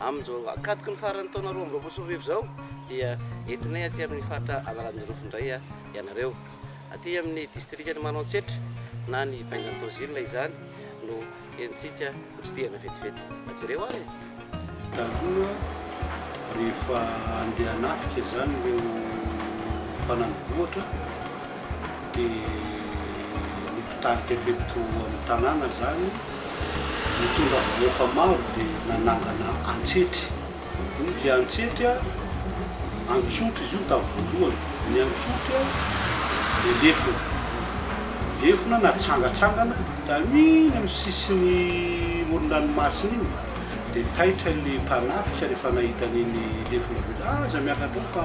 Amin'izao ankatoky ny faran'ny taona roa amby roapolo sy roa arivo izao dia entinay aty amin'ny faritra Analanjirofo indray ianareo. Aty amin'ny distrikan'i Manantsetra na ny Bengan Tozil izany no entintsika hotsidihana vetivety. Mba jereo ary e! Taloha rehefa handeha hanafika izany ireo mpanana vohitra dia ny mpitarika teto amin'ny tanàna izany nitondra vahoaka maro dia nanangana antsetry. Ilay antsetry antsotry izy io tamin'ny voalohany. Ny antsotry dia lefona. Lefona natsangatsangana tamin'iny amin'ny sisin'ny moron-dranomasina iny dia taitra ilay mpanafika rehefa nahita an'iny lefona be. Aza miakatra eo fa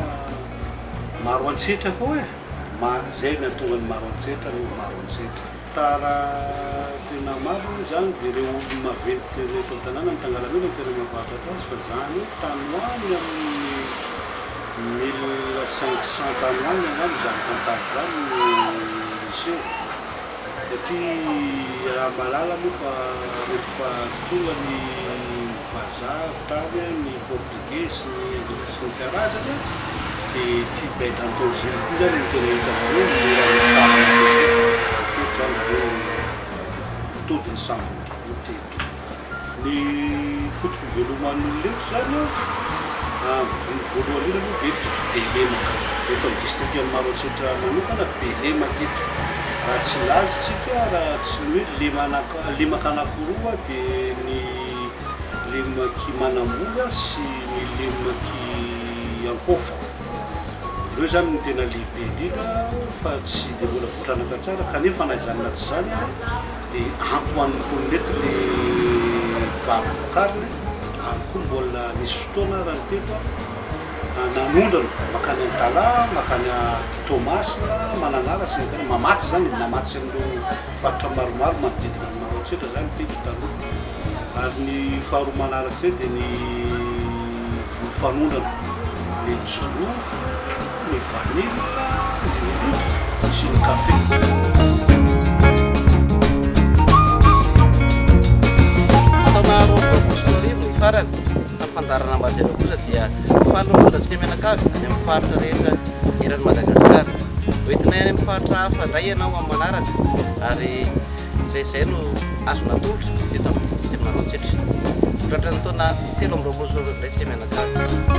maro antsetry aho e! Maro izay nahatonga ny maro an-tsetra no maro an-tsetra. Tara tena maro moa izany dia ireo olona maventy tena eto an-tanàna ny tangalamena no tena mampahafantatra azy fa izany hoe tany ho any amin'ny mille cinq cent tany ho any angamba izany tantara izany no niseho satria raha mahalala moa fa rehefa tonga ny vazaha avy tany ny portugais Izy loko tsy mety harajana dia ity bête en danger ity zany no tena hitanareo mora mifaly matetika zany zareo ny todin'ny sambony ity eto ny foto-piveloman'olona eto zany a ny voalohany indrindra aloha eto be lemaka eto amin'ny distrikan'i Maroantsetra manokana be lemaka eto raha tsy laza isika raha tsy ny hoe lemana- lemaka anakiroa dia ny Lemoky manamora sy ny lemoky ankofa. Ireo zany no tena lehibe indrindra fa tsy dia mbola votranaka tsara kanefa na izany na tsy izany ary dia ampy ho an'ny mponina eto le vary vokariny ary koa mbola nisy fotoana raha ny teko aho nanondrana makany Antala, makany Toamasina, Mananara sy ny tena Mamatsy zany, Mamatsy an'ireo faritra maromaro manodidina an'i Maroantsetra zany teko taloha. Ary ny faharoa manaraka izay dia ny voly fanondrana, ny jirofo, ny vanille, ny melody sy ny kafe. Taona roapolo sy roa arivo ny farany tamin'ny fandaharana Ambajy ireo kosa dia faly ny mpitsodratsika mianakavy any amin'ny faritra rehetra eran'i Madagasikara. Hoentinay any amin'ny faritra hafa indray ianao amin'ny manaraka ary izay izay no azony atolotra teto amin'ny Distrikan'i Maroantsetra. Tratran'ny taona telo amby roapolo sy roa arivo indray isika mianakavy.